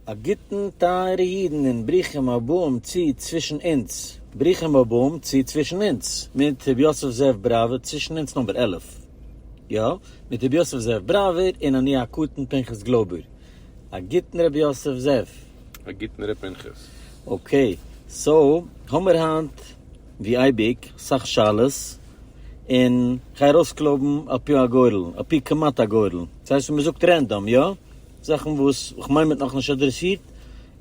א גוטן טייערע אידן און ברוכים הבאים צו צווישן אונז, ברוכים הבאים צו צווישן אונז מיט ר' יוסף זאב בראווער, צווישן אונז נומבער עלף, יא, מיט ר' יוסף זאב בראווער און אני הקטן פנחס גלויבער, א גוטן ר' יוסף זאב. א גוטן ר' פנחס. אקעי, סאו האמיר היינט ווי אייביג סאך שאלות, און כ'גיי ארויסקלויבן על פי הגורל, על פי כמעט הגורל, ס'הייסט ווי מ'זאגט רענדאם, יא? זאכן וואס כ'מיין מ'האט נאכנישט אדרעסירט,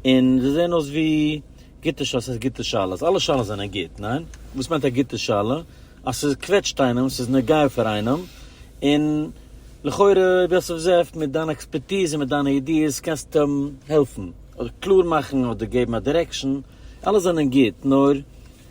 און זיי זעען אויס ווי גוטע שאלות, ס'הייסט גוטע שאלות? אלע שאלות זענען גוט, ניין? וואס מיינט א גוטע שאלה? אז ס'קוועטשט איינעם, ס'איז נוגע פאר איינעם, און לכאורה יוסף זאב מיט דיין עקספערטיז און מיט דיינע ידיעות קענסטו אים העלפן, אדער קלאר מאכן, אדער געבן א דירעקשאן, אלע זענען גוט, נאר.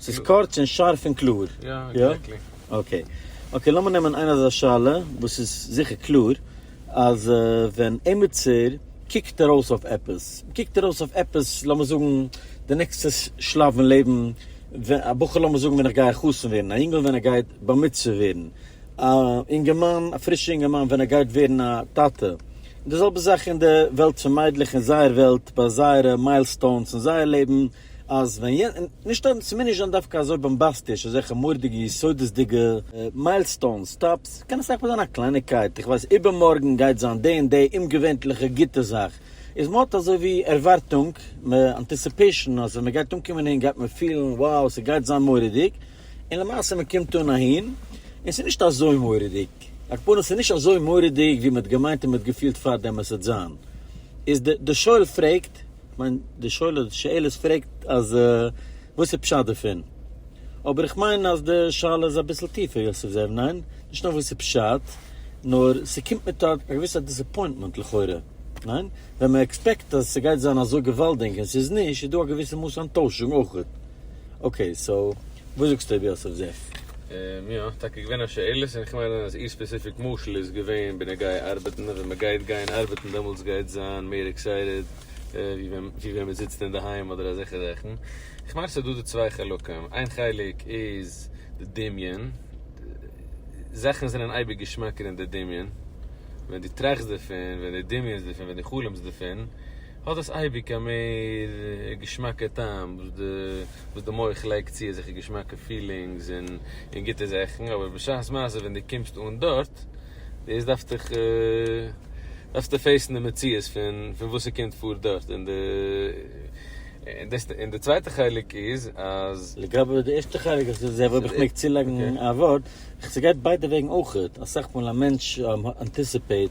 ס'איז קורץ און שארף און קלאר. יא, עקזעקטלי. אקעי. אקעי, לאמיר נעמען איין אזא שאלה וואס איז זיכער קלאר, אז ווען עימיצער קוקט ארויס אויף עפעס, קוקט ארויס אויף עפעס, לאמיר זאגן די נעקסטע שלב אין לעבן, א בחור לאמיר זאגן ווען איך גיי חתן ווערן, א יונגעל ווען ער גייט בר מצוה ווערן, א אינגערמאן, א פרישע אינגערמאן ווען ער גייט ווערן א טאטע, און די זעלבע זאך אין די וועלט פון מיידלעך אין זייער וועלט ביי זייערע מיילסטאונס אין זייער לעבן, אז ווען יענ. נישט אויב ס'מוז נישט זיין דווקא אזוי באמבאסטיש, אזעלכע מורדיגע יסודות'דיגע מיילסטאונס, סטאפס, קען אסאך מאל זיין א קלייניגקייט, איך ווייס איבערמארגן גייט זיין די און די אומגעווענטליכע גוטע זאך, איז מ'האט אזוי ווי ערווארטונג, מ'אנטיסיפעישן אז ווען מ'גייט אנקומען אהין גייט מען פילן wow ס'גייט זיין מורא'דיג, און למעשה מ'קומט אן אהין און ס'איז נישט אזוי מורא'דיג, הכוונה ס'איז נישט אזוי מורא'דיג ווי מ'האט געמיינט און מ'האט געפילט פארדעם עס וועט זיין, איז די שואל פרעגט. כ'מיין די שואל די שאלות פרעגט אז וואס איז פשט דערפון, אבער איך מיין אז די שאלה איז אביסל טיפער יוסף זאב, ניין? נישט נאר וואס איז פשט, נאר ס'קומט מיט א געוויסע דיסעפוינטמענט לכאורה, ניין? ווען מ'עקספעקט אז ס'גייט זיין אזוי געוואלדינג און ס'איז נישט, איז דא א געוויסע מאס אנטוישונג אויכעט. אקעי סאו וואס זאגסטו אויב יא סאיז עס. און יא, טאקע געווען א שאלות, און כ'מיין אז איר ספעסיפיק משל איז געווען בנוגעה ארבעטן, ווען מ'גייט גיין ארבעטן דעמאלטס גייט זיין מער עקסייטעד ווי ווען מ'זיצט אינדערהיים אדער אזעלכע זאכן. כ'מיין ס'איז דא די צוויי חלקים, איין חלק איז די דמיון, זאכן זענען אייביג געשמאקער אין די דמיון, ווען דו טראכסט דערפון, ווען דו דמיונסט דערפון, ווען דו חלומ'סט דערפון, האט דאס אייביג א מער געשמאקע טעם וואס די מח לייגט צו אזעלכע געשמאקע פילינגס און גוטע זאכן, אבער בשעת מעשה ווען דו קומסט אן דארט, דאס דארפסטיך דארפסטו פעיסן די מציאות פון וואס ס'קומט פאר דארט, און און די צווייטע חלק איז אז. לגבי די ערשטע חלק, איך זע אויב איך מעג צולייגן א ווארט, ס'גייט ביידע וועגן אויכעט, אסאך מאל א מענטש אנטיסיפעיט,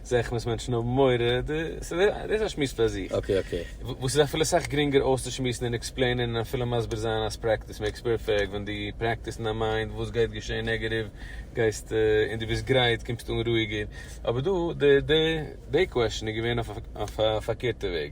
זעה איך וואס מענטשן האבן מורא, דאס איז א שמועס פאר זיך, וואס איז אפילו סאך גרינגער אויסצושמועסן און עקספלעינען און אפילו מסביר זיין אז פרעקטיס מעיקס פערפעקט, ווען דו פרעקטיסט אין דיין מיינד וואס גייט געשען נעגעטיוו גייסטו און דו ביסט גרייט קומסטו אן רואיגער, אבער דא די קוועשאן איז געווען אויף א פארקערטע וועג.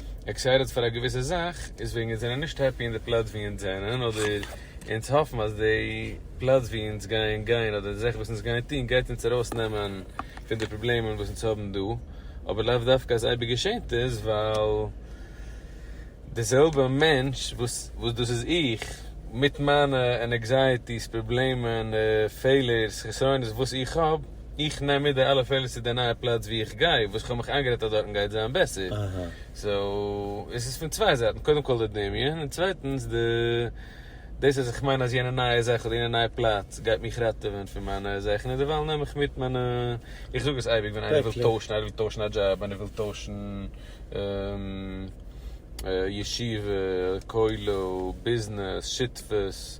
עקסייטעד פאר א געוויסע זאך איז וועגן אונז זענען נישט העפי אין די פלאץ ווי אונז זענען אדער אונז האפן אז די פלאץ ווי אונז גייען גיין אדער די זאכן וואס אונז גייען טון גייט אונז ארויס נעמען פון די פראבלעמען וואס אונז האבן דא אבער לאו דווקא אז אייביג געשענט עס ווייל די זעלבע מענטש וואס וואס דאס איז איך מיט מיינע ענעקזייעטיס פראבלעמען פעלערס חסרונות וואס איך האב. איך נעם מיט די אלע פעלער צו די נייע פלאץ וואו איך גיי, וואס כ'האב מיך איינגערעדט אז דארטן גייט זיין בעסער. סאו, עס איז פון צוויי זייטן, קודם כל די דמיון, און צווייטנס די דאס אז איך מיין אז יענע נייע זאך אדער יענע נייע פלאץ גייט מיך ראטעווען פון מיינע זאכן, און דערווייל נעם איך מיט מיינע, איך זאג עס אייביג ווען איינער וויל טוישן, איינער וויל טוישן א דזשאב, איינער וויל טוישן ישיבה, כולל, ביזנעס, שותפות.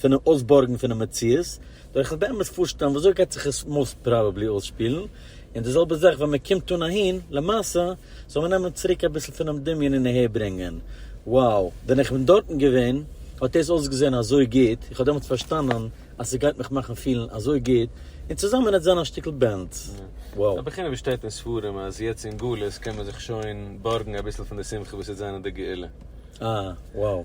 פונעם אויסבארגן פונעם מציאות, דארך זיך באמת פארשטעלן וויאזוי גייט זיך עס מאוסט פראבעבלי אויסשפילן, און די זעלבע זאך ווען מען קומט אן אהין למעשה, זאל מען נעמען צוריק אביסל פונעם דמיון און אהערברענגען, wow, ווען איך בין דארטן געווען האט דאס אויסגעזען אזוי גוט, איך האב דעמאלטס פארשטאנען אז עס גייט מיך מאכן פילן אזוי גוט, און צוזאמען עטס זיין א שטיקל בענד, wow. אבער חינם ווי שטייט אין ספרים אז יעצט אין גלות קען מען זיך שוין בארגן אביסל פון די שמחה וואס יעצט זענען די גאולה. אה, wow.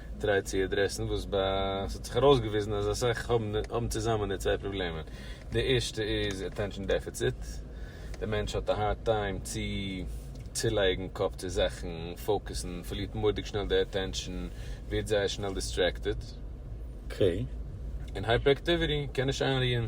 טריי צו עדרעסן וואס ב ה ס'האט זיך ארויסגעוויזן אז אסאך האבן האבן צוזאמען די צוויי פראבלעמען. די ערשטע איז אטענשאן דעפיציט, די מענטש האט א הארד טיים צו צולייגן קאפ צו זאכן, פאוקעסן, פארלירט מורא'דיג שנעל די אטענשאן, ווערט זייער שנעל דיסטרעקטעד. אקעי. און הייפעראקטיוויטי, קען נישט איינרוען.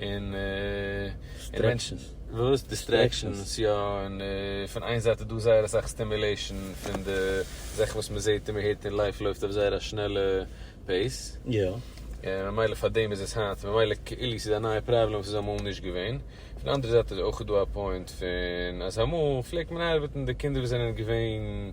און דיסטרעקשאנס, וואס? דיסטרעקשאנס יא, און פון איין זייט איז דא זייער אסאך סטימולעישאן פון די זאכן וואס מען זעט און מען הערט און לייף לויפט אויף זייער א שנעלע פעיס, און ממילא פאר דעם איז עס היינט, ממילא כאילו ס'איז א נייע פראבלעם וואס איז אמאל נישט געווען, פון די אנדערע זייט איז אויך דא א פוינט פון אז אמאל פלעגט מען ארבעטן די קינדער וואס זענען געווען.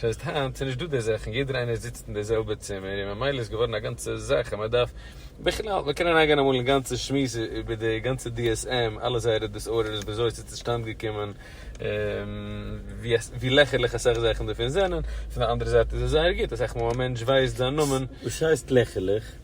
ס'הייסט היינט ס'איז נישט דא די זאכן, יעדער איינער זיצט אין די זעלבע צימער, און ממילא איז געווארן א גאנצע זאך אז מען דארף, בכלל מען קען אריינגיין אמאל אין גאנצע שמועס איבער די גאנצע DSM, אלע זייערע דיסארדערס וויאזוי ס'איז צושטאנד געקומען, ווי לעכערליך אסאך זאכן דערפון זענען, פון די אנדערע זייט איז עס זייער גוט, אסאך מאל א מענטש ווייסט זיין נאמען. וואס הייסט לעכערליך?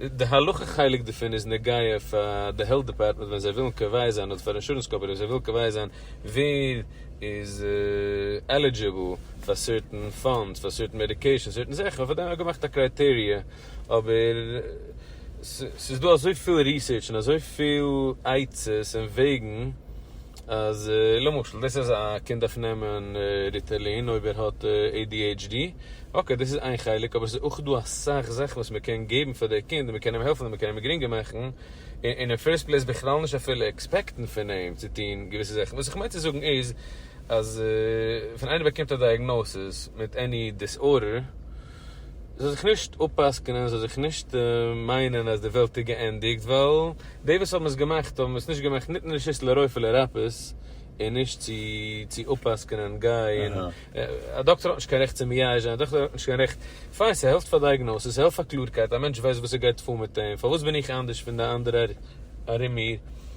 די הלכה חלק דערפון איז נוגע פאר די העלט דעפארטמענט ווען זיי ווילן קובע זיין אדער פאר אינשורענס קאמפאני ווען זיי ווילן קובע זיין ווער איז עלידזשיבל פאר סערטען פאנדס פאר סערטען מעדיקעישאנס סערטען זאכן און פאר דעם האט מען געמאכט א קרייטעריע אבער ס'איז דא אזויפיל ריסערטש און אזויפיל עצות און וועגן אז למשל דאס אז א קינד דארף נעמען ריטעלין אויב ער האט adhd, אקעי דאס איז איין חלק, אבער עס איז אויך דא אסאך זאכן וואס מען קען געבן פאר די קינד און מען קען אים העלפן און מען קען אים גרינגער מאכן, און אין פירסט פלעיס בכלל נישט אפילו עקספעקטן פון אים צו טון געוויסע זאכן, וואס איך מיין צו זאגן איז אז ווען איינער באקומט א דייעגנאוסעס מיט עני דיסארדער, זאל זיך נישט אפ'פסק'נען, זאל זיך נישט מיינען אז די וועלט איז געענדיגט, ווייל די וואס האבן עס געמאכט האבן עס נישט געמאכט ניתן רשות לרופא לרפא, און נישט צו צו אפ'פסק'נען גיי און א דאקטער האט נישט קיין רעכט צו מייאש זיין, א דאקטער האט נישט קיין רעכט, פיין ס'העלפט פאר דייעגנאסעס, ס'העלפט פאר קלארקייט, א מענטש ווייסט וואס ער גייט פאר מיט אים, פארוואס בין איך אנדערש פון די אנדערע ארום מיר?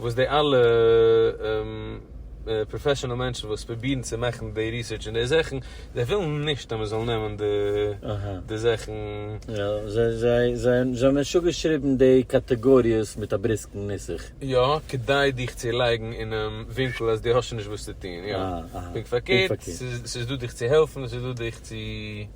וואס די אלע פראפעשענעל מענטשן וואס פרובירן צו מאכן די ריסערטש אין די זאכן, זיי ווילן נישט אז מען זאל נעמען די זאכן. יא, זיי האבן שוין געשריבן די קאטעגאריעס מיט א בריסקן נוסח. יא, כדי דיך צו לייגן אינעם ווינקל אז דו האסט שוין נישט וואס צו טון. יא, פונקט פארקערט, ס'איז דא דיך צו העלפן, ס'איז דא דיך צו.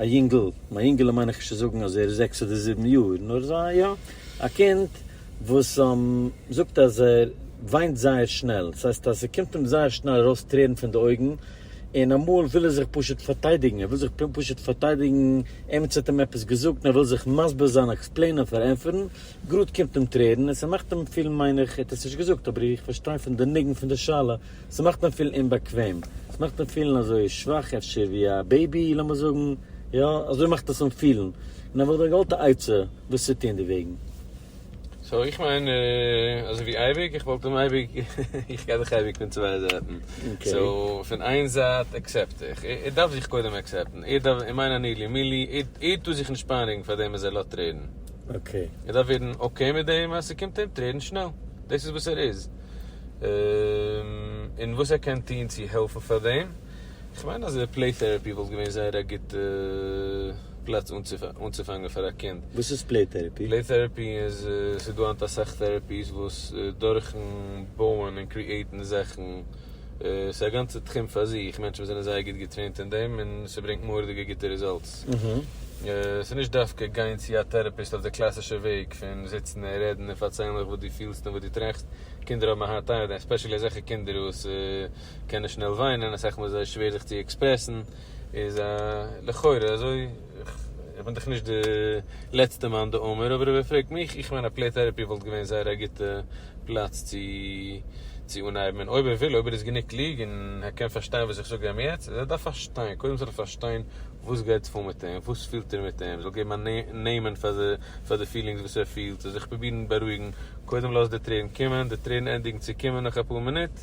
א יונגל, מיין יונגעלע מיין איך נישט צו זאגן אז ער איז זעקס אדער זיבן יאר, נאר אזא יא, א קינד וואס זאגט אז ער וויינט זייער שנעל, ס'הייסט אז ס'קומט אים זייער שנעל ארויס טרערן פון די אויגן, און אמאל וויל ער זיך פשוט פארטיידיגן, ער וויל זיך פשוט פארטיידיגן, עימיצער האט אים עפעס געזאגט און ער וויל זיך מסביר זיין, עקספלעינען, פארענטפערן, גראד קומט אים טרערן און ס'מאכט אים פילן מיין איך, ער האט עס נישט געזאגט אבער איך פארשטיי פון די ניגון פון די שאלה ס'מאכט אים פילן אומבאקוועם, ס'מאכט אים פילן אזוי שוואך אפשר ווי א בעיבי לאמיר זאגן, יא אזוי מאכט עס אים פילן, און האב איך דיר געוואלט א עצה וואס צו טון דערוועגן. סאו איך מיין אזוי ווי אייביג, איך וואלט אים אייביג, איך גיי דאך אייביג פון צוויי זייטן, סאו פון איין זייט אקסעפט איך, ער דארף זיך קודם אקסעפטן, ער דארף, איך מיין אני לי מי לי, ער טאר זיך נישט פיינעגן פאר דעם אז ער לאזט טרערן, ער דארף ווערן אקעי מיט דעם אז ס'קומט אים טרערן שנעל, דאס איז וואס ער איז. און וואס ער קען טון צו העלפן פאר דעם, איך מיין אז פלעי טערעפי וואלט געווען זייער א גוטע פלאץ אנצופאנגען פאר א קינד. וואס איז פלעי טערעפי? פלעי טערעפי איז, ס'איז דא היינט אסאך טערעפיס וואס דורכן בויען און קריעטן זאכן, ס'איז א גאנצע תחום פאר זיך, מענטשן וואס זענען זייער גוט געטרעינט אין דעם און ס'ברענגט מורא'דיגע גוטע רעזאלטס. געזונט. ס'איז נישט דווקא גיין צו א טעראפיסט אויף די קלאסישע וועג פון זיצן און רעדן און פארציילן זיך וואס דו פילסט און וואס דו טראכסט, קינדער האבן א הארד טיים מיט דעם, עספעשעלי אזעלכע קינדער וואס קענען שנעל וויינען, אסאך מאל איז זיי שווער זיך צו עקספרעסן, איז א לכאורה אזוי, איך בין דאך נישט די לעצטע מאן דאמר, אבער אויב ער פרעגט מיך, איך מיין א פלעי טעראפי וואלט געווען זייער א גוטע פלאץ צו צו אנהייבן און אויב ער וויל אויב ער איז גענוג קלוג און ער קען פארשטיין וואס איך זאג איהם יעצט אז ער דארף פארשטיין קודם זאל ער פארשטיין וואס גייט פאר מיט איהם וואס פילט ער מיט איהם זאל געבן א נעמען פאר די פילינגס וואס ער פילט זאל זיך פרובירן בארואיגן קודם לאז די טרערן קומען די טרערן ענדיגן צו קומען נאך אפאר מינוט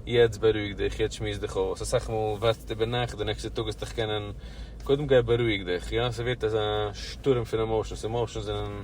יעצט בארואיג דיך יעצט שמועס דיך אויס אסאך מאל ווארטסטו איבער נאכט די נעקסטע טאג העסטעך קענען קודם גיי בארואיג דיך יא ס'ווערט אזא שטורעם פון עמאושענס עמאושענס זענען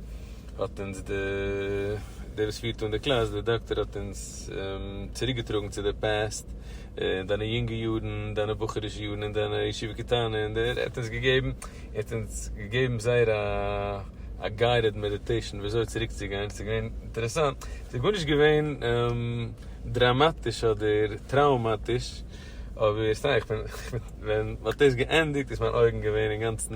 האט אונז די דער וואס פירט אן די קלאס דער דאקטער האט אונז צוריק געטראגן צו די פּעסט און דיינע יונגע יארן דיינע בחור'ישע יארן און דיינע ישיבה קטנה און דער ער האט אונז געגעבן ער האט אונז געגעבן זייער א א גיידעד מעדיטעישן ווי אזוי צוריק צו גיין ס'איז געווען אינטערעסאנט ס'איז גארנישט געווען דראמאטיש אדער טראומאטיש אבער סתם איך בין ווען מ'האט דאס געענדיגט איז מיין אויגן געווען אינגאנצן.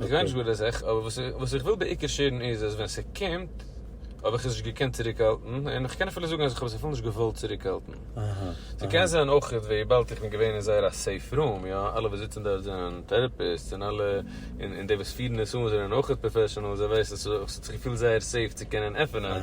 איך גיי נישט גאר לזכר, אבער וואס איך וויל בעיקר שעירן איז אז ווען ס'קומט האב איך עס נישט געקענט צוריקהאלטן, און איך קען אפילו זאגן אז איך האב עס אפילו נישט געוואלט צוריקהאלטן. ס'קען זיין אויך וויבאלד איך בין געווען אין זייער א סעיף רום, יא, אלע וואס זיצן דארט זענען טעראפיסטס און אלע, און די וואס פירן עס אן זענען אויך פראפעשענעלס, זיי ווייסן, ס'האט זיך געפילט זייער סעיף צו קענען עפענען.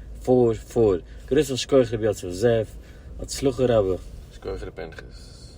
פאר פאר. גרויסן שכח רבי יוסף זאב. הצלחה רבה. שכוח ר' פנחס.